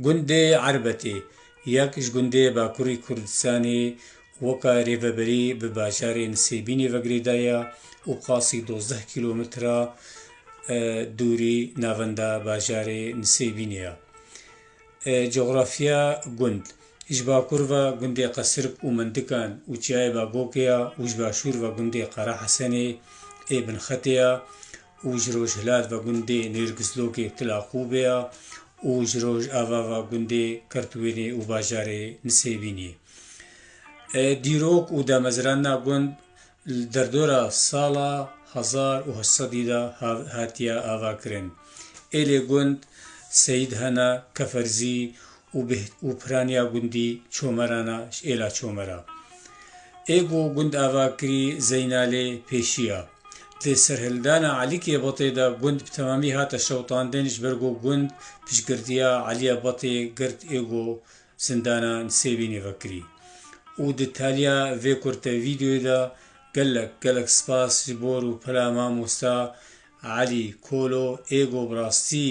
Gundê Erbetê yek ji gundê Bakurî Kurdistanê weke rêveberî bi bajarê Nisêbînê ve girêda ye û qasî dozdeh kîlometre dûrî navenda bajarê Nisêbînê ye. Cografiya gund Ji bakur ve gundê Qesirk û Mindikan û Çiyayê Bagokê ye û ji başûr ve gundê Qerahesenê ê Binxetê ye. û ji rojhilat ve gundê Nêrgizlogê Tilaqûbê ye û ji rojava ve gundê Kirtwênê û bajarê Nisêbînê. Dîrok û damezrana gund li derdora sala hezar û heşt sedî de hatiye avakirin. Êlê gund Seyîd Hena Keferzî û bi û piraniya gundî Çomerana ji êla Çomera. Ê ku gund ava kirî Zeynalê pêşiya. Di serhildana Elîkê Batê de gund bi temamî hate şewitandin ji ber ku gund piştgirtiya Elîya Batê girt ê ku zindana Nisêbînê vekirî. Û di taliya vê kurte vîdeoyê de gelek gelek spas ji bo rûpela mamosta Elî Kolo ê ku bi rastî